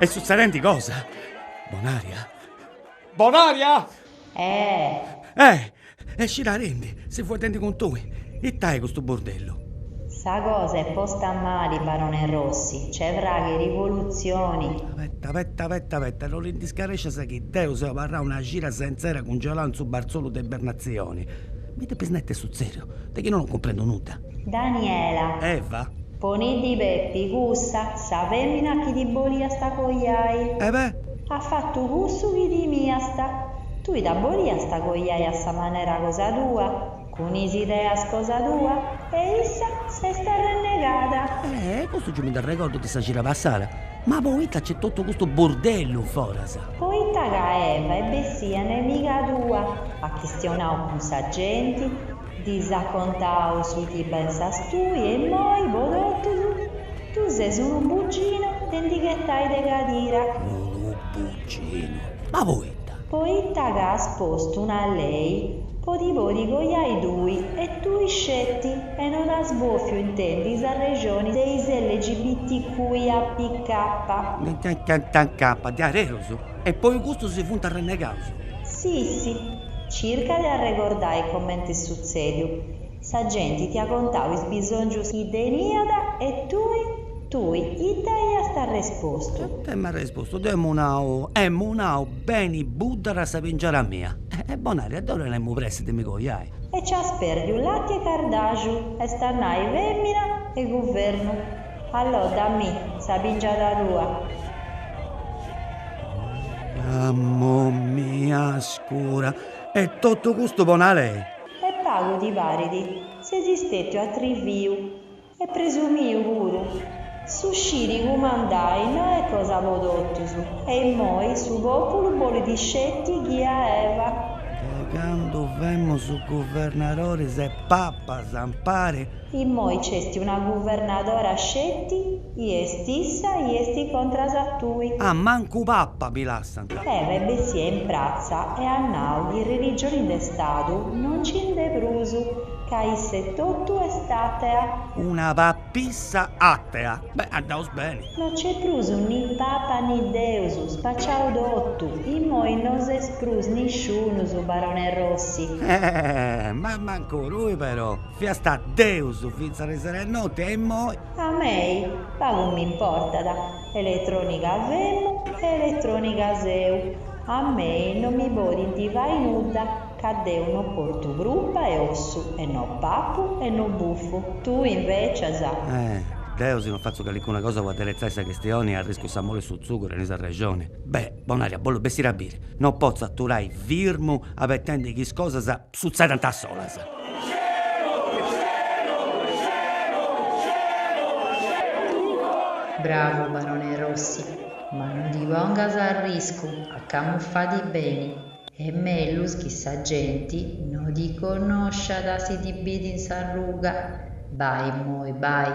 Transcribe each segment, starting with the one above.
Est sutzedendi cosa? Bonaria? Bonaria! Eh! Eh! Scidadindi, seu fueddendi cun tui. Ita est custu burdellu? Sa cosa est posta mali, barone Rossi. Nc'est fragu 'e rivolutzioni! Abeta, abeta, abeta, abeta, no ti ndi scarescias chi deu seu abarrau una cira senzera cungelau in su barzolu de ibbernatzioni. Mi depis nai ita est sutzèdiu, de chi no non cumprendu nudda. Daniela. Eva. Poniddi Pepi cussa, sa femina chi ti boliasta coiai. Eva at fatu cussu chi timiasta. Tui dda boliasta coiai a sa manera cosa tua, cun is ideas cosa tua, e issa s'est arrennegada. Ehe, custu giai mi nd'arregordu de sa cira passada. Ma poita nc'est totu custu burdellu foras? Poita ca Eva est bessia nemiga tua, at chistionau cun sa genti, Ddis at contau su chi pensas tui e immoi, po totus, tui ses unu buginu de ndi ghetai de cadira. Unu buginu? Ma poita? Poita ca as postu una lei po ti podi coiai tui e tui sceti e non as bofiu intendi s'arrexoni de is LGBTQIAPK. Capa, diareus? E poi custus si funt arrennegaus? Si, si, Circa de arregordai comenti est sutzèdiu. Sa genti ti at contau is bisòngius chi teniat e tui, tui ita iast arrespostu? Deu emu arrespostu, deu emu nau, emu nau, beni buddat sa pingiada mia. Eh Bonaria, deu tenemu pressi de mi coiai. E nci as pèrdiu lati e cardàxu, est a nai fèmina e guvernu. Allodda, mi', sa pingiada tua. Mamma mia scura! E totu custu po na lei? E pagu ti parit? Ses istetiu atriviu e presumiu puru. Su sciri cumandai no est cosa po totus e immoi su populu bolit sceti chi a Eva. De candu femus guvernadoris e papas ampari. Immoi nc'est una guvernadora sceti i est issa i est contras a tui. Ah, mancu papa mi lassant. Eva est bessia in pratza e at nau chi religioni de stadu no nci nd'est prus, ca issa etotu est atea. Una papissa atea. Beh, andaus beni. No nc'est prus ni papa ni deus, spaciau totu, immoi no ses prus nisciunus, barone Rossi. Ma mancu tui però. Fiast deus fintzas ariseru a note e immoi. A mei pagu m'importat, eletrònica femu e eletrònica seu, a mei no mi podint fai nudda ca deu no portu prupa e ossu e no papu e no bufu, tui invècias. Eh, deu si no fatzu calicuna cosa po adderetzai sa chistioni arriscu sa mol' 'e su tzugu in sa rexoni. Beh, Bonaria, bollu bessiri a biri. No potzu aturai firmu abettendi chi is cosas. Sutzedent a solas. Bravu Barone Rossi, ma non ti pongas a riscu ah, camuffadi beni, est mellus chi sa genti no ti connosciat si ti bit in s'arruga, bai immoi bai.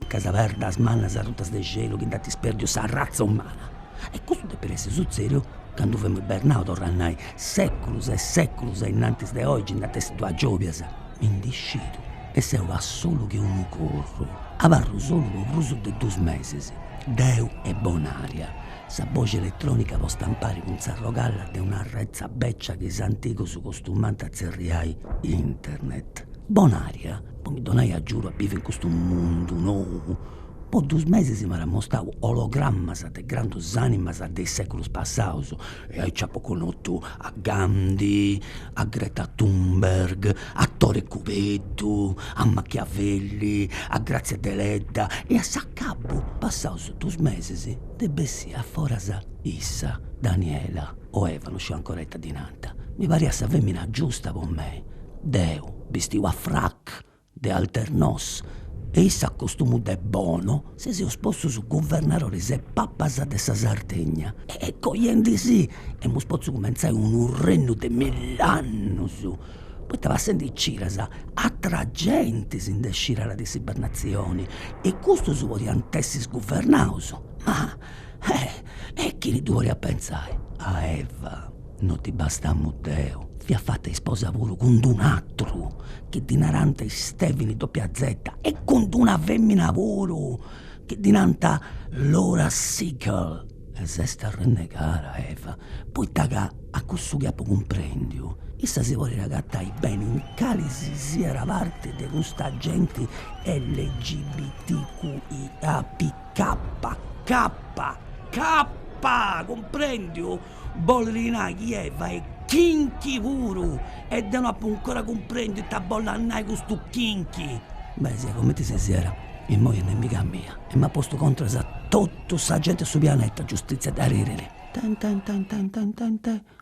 Ca is perdas mannas arrutas de xelu chi nd'ant ispèrdiu sa ratza umana. E custu depit essi sutzèdiu candu femus ibernaus, torru a nai, sèculus e sèculus a innantis de oigi nd'at essi duas giòbias. Mi ndi scidu e seu assolu che unu corru. Abarru solu po prus de dus mesis. Deu e Bonaria. Sa boxi eletrònica postapari cun s'arrogalla de una retza bècia chi is antigus costumànt a tzerriai internet. Bonaria. po mi donai agiudu a bivi in custu mundu nou, po dus mesis m'at amostau ologramas de grandus animas de is seculus passaus e aici apu connotu a Gandhi, a Greta Thunberg, a Tore Cubeddu, a Machiavelli, a Grazia Deledda e a s'acabu passaus dus mesis nd'est bessia a foras issa, Daniela o Eva, no sciu ancora ita ddi nant, mi pariat sa femina giusta po mei, deu bistiu a frac de alternos e issa a costumu de bono si seus postus guvernadoris e papas de sa Sardigna e cojendi si emus potzu cumentzai unu rennu de mill'annus, poita passendi cidas atra genti si ndi scidàt de s'ibernatzioni e custus podiant essi guvernaus ma Eh! E chini ddu podiat pentzai. A Eva, no ddi bastamu deu, fiat fata isposa puru cun d'un'atru, chi ddi narànt Stèvini dopia zeta, e cun d'una femina puru, chi ddi nànt Laura Sigle. E s'est arrennegada Eva, poita ca a cussu chi apu cumprendiu, issa si podit agatai beni in cali si siat parti de custa genti LGBTQIAP. Cappa, cappa, cappa, cumprendiu? Bollit nai chi Eva est kinky puru e deu no apu 'ncora cumprendiu ita bollat nai custu kinky. Beh, siat cumenti si siat, immoi est nemiga mia e m'at postu contras a totu sa genti 'e su pianeta, giustizia dd'arregirit. Tententententente.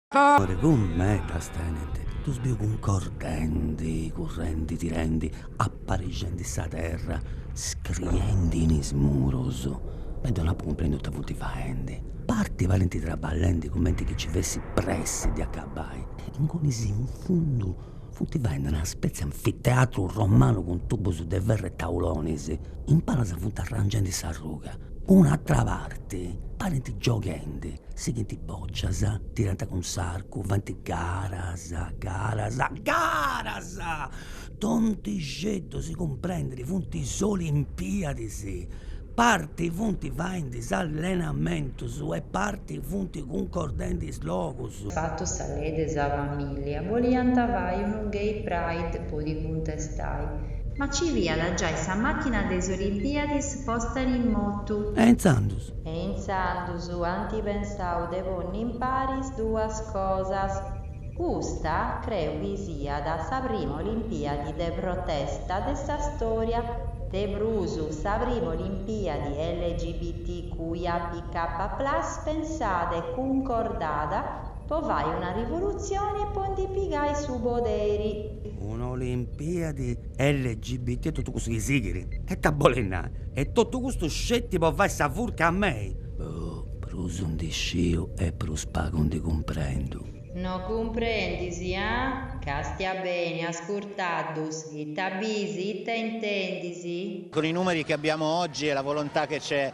Core cun medas tenint. Ddus biu cuncordendi, currendi, tirendi, aparixendi sa terra, scriendi in is murus e deu no apu cumprèndiu ita totu funt faendi. Parti parint traballendi cumenti chi nci fessit pressi de acabai e ingunis in fundu funt faendi una spetzia anfiteatru romanu cun tubus de ferru e taulonis. In palas funt arrangendi s'arruga. Un'atera parti parint gioghendi. Sighint bòcias, tirant cun s'arcu, faint garas, garas, garas! Tontixeddu, si cumprendit, funt is Olimpiadis, parti funt faendi is allenamentus e parti funt cuncordendi is logus. Fatu sa lei de sa famìllia, boliant fai unu gay pride po ddi cuntestai. Ma nci fiat giai sa màchina de is Olimpiadis posta in motu. E intzandus? E intzandus? Anti pensau de ponni in paris duas cosas. Custa creu chi siat sa prima Olimpiadi de protesta de sa storia, de prus sa prima Olimpiadi LGBTQIAPK plus pensada e cuncordada po fai una rivolutzioni e po ndi pigai su poderi. Una Olimpiadi LGBT e totu custu chi sighit, e ita bolit nai, e totu custu sceti po fai sa furca a mei? Boh, prus ndi sciu e prus pagu ndi cumprendu. No cumprendis, a? Castia beni, ascurtaddus, ita bis, ita intendis? Con i numeri che abbiamo oggi e la volontà che c'è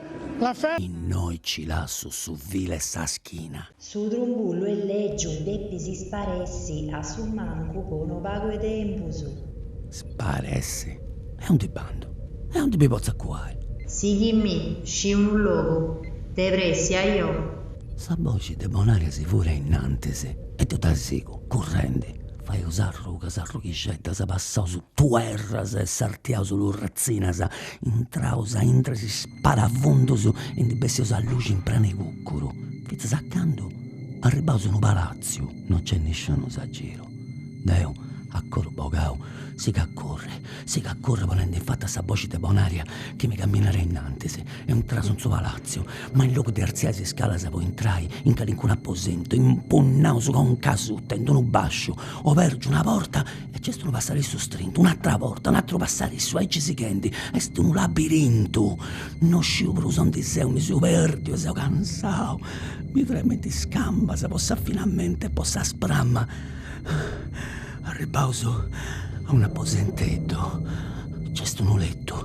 Innoi ci lassu su filu 'e sa schina. Su trumbullu est lègiu e depis sparessi a su mancu po unu pagu 'e tempus. Sparessi? E undi bandu? E undi mi potzu acuai? Sighimmi, sciu unu logu. De pressi, ajo! Sa boxi de Bonaria si fuit a innantis e deu dda sigu, currendi. Faius arrugas, arrughixeddas, passaus tuerras e sartiaus lurratzinas. Intraus a intre is sparafundus e ndi bessius a luxi in pranu 'e cucuru, fintzas a candu arribbaus unu palatziu, no nc'est nisciunus a giru. Deu, a coru bogau, sigu a curri, sigu a curri ponendi in fatu a sa boxi de Bonaria chi mi camminat innantis. Intraus in su palatziu, ma in logu de arziai is scalas po intrai in calincunu aposentu, impunnaus conca a suta in unu basciu, obergiu una porta E nc'est unu passarissu strintu, un'atra porta, un' atru passarissu, aici sighendi, est unu labirintu. No sciu prus ondi seu, mi seu perdiu e seu cansau. Mi tremint is cambas po s'affinamentu e po sa sprama. Arribbaus a un' aposenteddu, nc'est unu lettu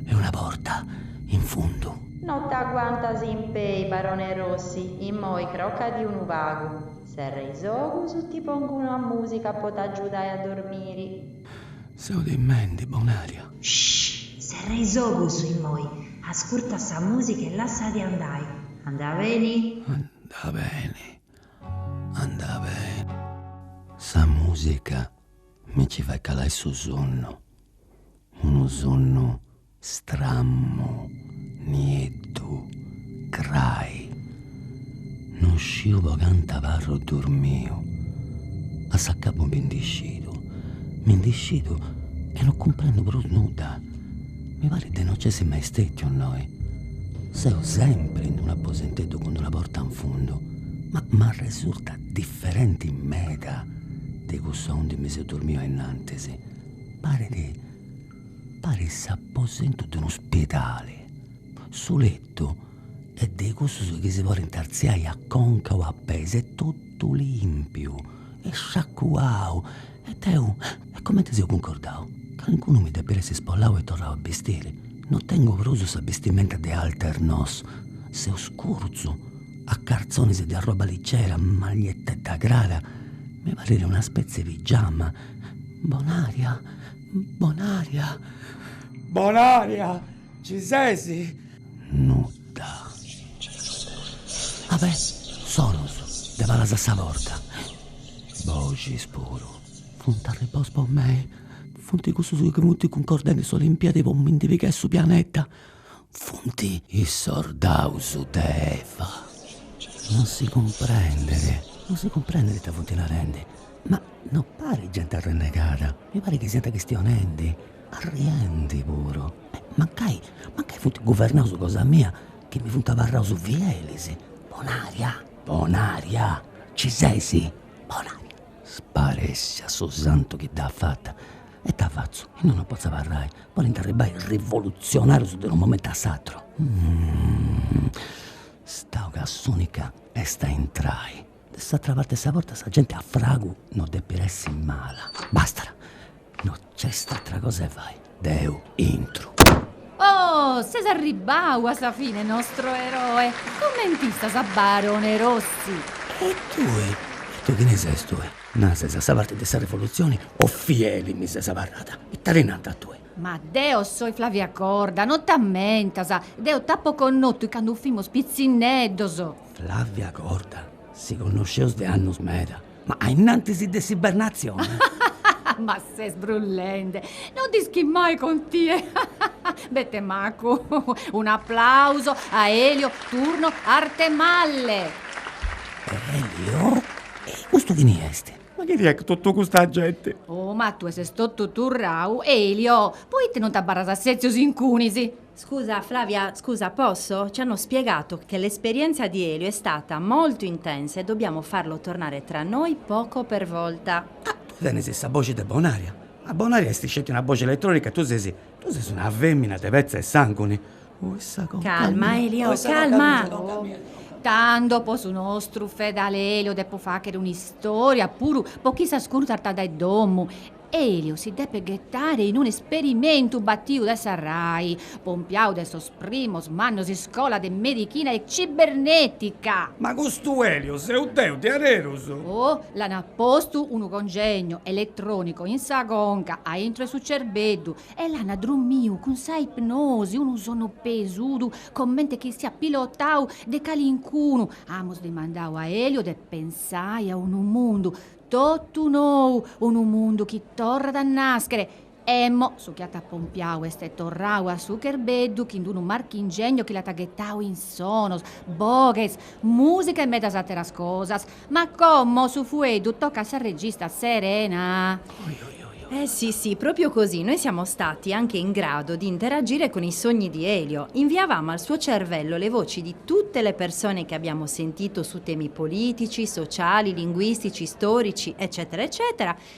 e una porta in fundu. No t'aguantas in pei, barone Rossi, immoi crocadì unu pagu. Serra is ogus, ti pongu una musica po t'agiudai a dormiri. Seu timendi, Bonaria. Shh! Serra is ogus immoi, ascurta sa musica e lassati andai. Andat beni? Andat beni, andat beni. Sa musica mi ci fait calai su sonnu, unu sonnu. Strammu nieddu grai. Non sciu po cantu abarru durmiu, a s'acabu mi ndi scidu, mi ndi scidu e non cumprendu prus nudda. Mi parit de non nc'essi mai stètiu innoi. Seu sempri in un'aposenteddu cun d'una porta in fundu, ma m'arresurtat diferenti meda de cussu undi mi seu durmiu ainnantis. Parit Parit s'aposentu de unu spidali. Su letu est de cussus chi si podint artziai a conca o a peis, est totu lìmpiu e sciacuau e deu, e comenti seu cuncordau, calincunu mi depit essi spollau e torrau a bistiri, no tengu prus sa bistimenta de Alternos, seu scurzu, a cartzonis de arroba ligera, magliettedda crara, mi parit una spetzie 'e pigiama, Bonaria Bonaria! Bonaria! Ci sesi? Nudda. Ah beh, sonus de palas a sa porta. Boxis puru. Funt arribaus po mei. Funt cussus chi funt cuncordendi s'Olimpiadi po mi ndi pigai su pianeta. funt is sordaus de Eva. Non si cumprendit, non si cumprendit ita funt narendi, ma no parit genti arrennegada, mi parit chi siant chistionendi, arriendi puru. Mancai, mancai funt guvernaus cosa mia chi mi funt abarraus fielis, Bonaria, Bonaria, ci sesi? Bonaria, sparèssia, su santu chi dd'at fata E ita fatzu, innoi non potzu abarrai, podint arribai is rivolutzionarius de unu momentu a s'aturu. Stau ca s'unica est a intrai. De s'atera parti 'e sa porta sa genti a fragu no depit essi mala. Bastat, no nc'est atera cosa 'e fai, deu intru. Oh, ses arribbau a sa fine, nostru eroe! Comente istas, barone Rossi? E tui, e tui chini ses tui? Na, ses a sa parte de sa Revolutzione o fieli mi ses abarrada? Ita ti nant a tui? Ma deo soi Flavia Corda, non t'ammentas, deo t'apo connotu candu fimus pitzinneddos. Flavia Corda? Si connosceus de annus meda, ma ainnantis de s'Ibernatzione? Ma ses brullende, non nd'ischis mai con tie. Bete macu. Un'aplauso a Elio Turno Arthemalle. Elio? E custu chini est? Ma chi fiat totu custa genti? Oh, ma tue ses totu turrau. Elio, poite non t'abarras a setzios incunis? Scusa, Flavia, scusa, posso? Ci hanno spiegato che l'esperienza di Elio è stata molto intensa e dobbiamo farlo tornare tra noi poco per volta. Ah, tue tenes sa boxi de Bonaria. Ma Bonaria est sceti una boxi elettronica e tue ses Tu ses una fèmina de petza e sànguni. Calma, Elio, calma! Tando po su nostru fedale Elio depo fàghere un'istòria puru po chi s'ascurtat dae domu. Elio si depet ghetare in un'esperimentu batiu de sa Rai, pompiau de sos Primos mannos iscola de medichina e cibernetica! Ma custu Elio seu deu de arerus! Oh, l'an postu unu congegno eletronico in sa conca, a intro 'e su cerbeddu, e l'an drummiu cun sa ipnosi, unu sonnu pesudu comente chi siat pilotau de calincunu. Amus dimandau a Elio de pensai a unu mundu totu nou, unu mundu chi torrat a naschere. Emmo, su chi at pompiau est torrau a su cherbeddu chin d'unu marchingegno chi l'at ghetau in sonos, boghes, musica e medas ateras cosas. Ma como su fueddu tocat a sa regista Serena. Oi oi oi oi. Eh sì sì, proprio così, noi siamo stati anche in grado di interagire con i sogni di Elio, inviavamo al suo cervello le voci di tutte le persone che abbiamo sentito su temi politici, sociali, linguistici, storici, eccetera eccetera,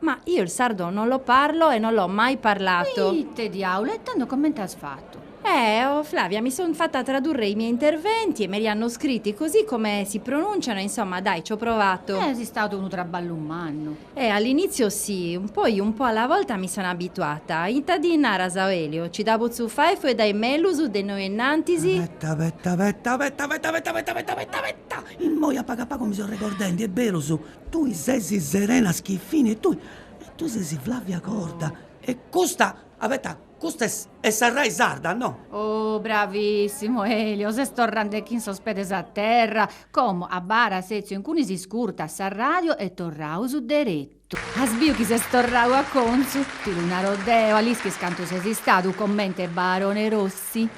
Ma io il sardo non lo parlo e non l'ho mai parlato. Ma ite diaulu, e tando comente as fattu? Eh, oh Flavia, mi son fatta tradurre i miei interventi e me li hanno scritti così come si pronunciano e insomma, dai, c'ho provato. Est istadu unu trabballu mannu. Eh, all'inizio sì, poi un po' alla volta mi sono abituata. Ita ndi naras, o Elio? Ci dda potzu fai a fueddai mellus de innoi innantis? Abeta, abeta, abeta, abeta, abeta, abeta, abeta, immoi a pagu a pagu mi seu regordendi, est berus, Tui sesi Serena Schiffini e tui e tui sesi Flavia Corda e custa, abeta, custa est est sa Rai sarda, no? Oh, bravissimu Elio, ses torrande chin sos pedes a terra, como abarra setziu incunis, iscurta sa radio e torraus deretu. As biu chi ses torrau a contzu? Ti lu naro deo, a l'ischis cantu ses istadu comente Barone Rossi?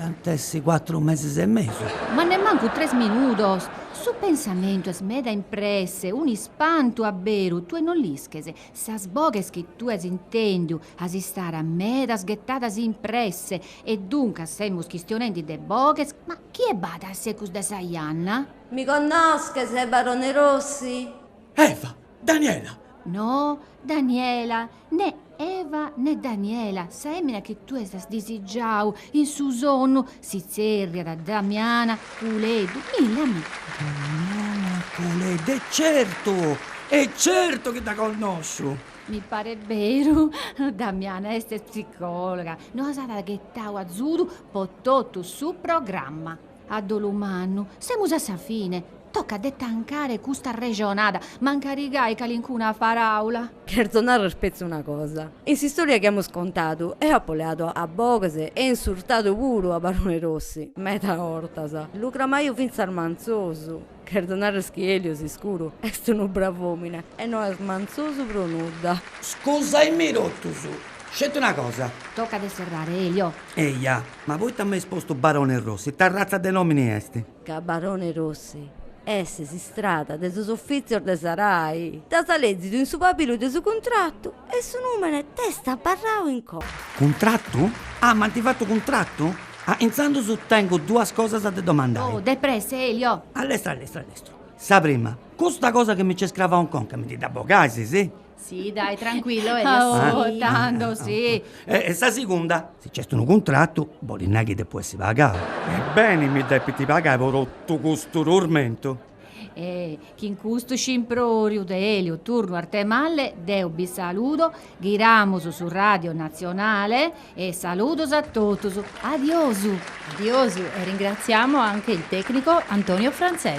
Ant a essi cuatru mesis e mesu. Ma nemmancu tres minudos! Su pensamentu est meda in presse, un'ispantu a beru, tue non l'isches, sas boghes chi tue as intendiu, as a istare medas ghetadas in presse, e duncas semus chistionendi de boghes, ma chie b'at a secus de sa janna? Mi connosches, barone Rossi? Eva! Daniela! No, Daniela, ne Eva ne Daniela, sa emina chi tu ias disigiau in su sonnu, si tzerriat Damiana Puleddu, milla mi. Damiana Puleddu, e certu, e certu chi dda connosciu! Mi paret beru, Damiana est psicologa, nos at ghetau azudu po totu su programma. A dolu mannu, semus a sa fine. Tocat de tancare custa arrexonada, mancari gai calincuna paraula. Cherzo narrer petzi una cosa. In s'istoria chi amus contadu, eo apo leadu a boghes e insurtadu puru a Barone Rossi, meda 'ortas. Lu cramaiu fintzas mantzosu. Cherzo narrer chi Elio s'iscuru est unu brav'omine e no est mantzosu pro nudda. Scusae·mi totus. Sceti una cosa. Tocat de serrare, Elio. Eja, ma poita m'est postu Barone Rossi? Ita ratza de nomini est? Ca Barone Rossi est s'istrada de sos offizios de sa Rai. L'as lezidu in su pabilu de su cuntratu e su numene t'est abarrau in conca. Cuntratu? Ah, m'ant fatu cuntratu? Ah, intzandus tengu duas cosas de domandai. Oh, depressa, Elio! A lestru, a lestru, a lestru. Sa prima, custa cosa chi mi nc'est cravau in conca mi dda bogais, si? Si, dai, trancuillu, Elio, si. Ah, tando, si. E sa segunda, si nc'est unu cuntratu, bolit nai chi depu essi pagau. E beni mi depint pagai po totu custu turmentu? E chin custu scimpròriu de Elio Turno Arthemalle deo bi saludo, ghiramus su Ràdio Natzionale e saludos a totus. Adiosu! Adiosu e ringraziamo anche il tecnico Antonio Franzese.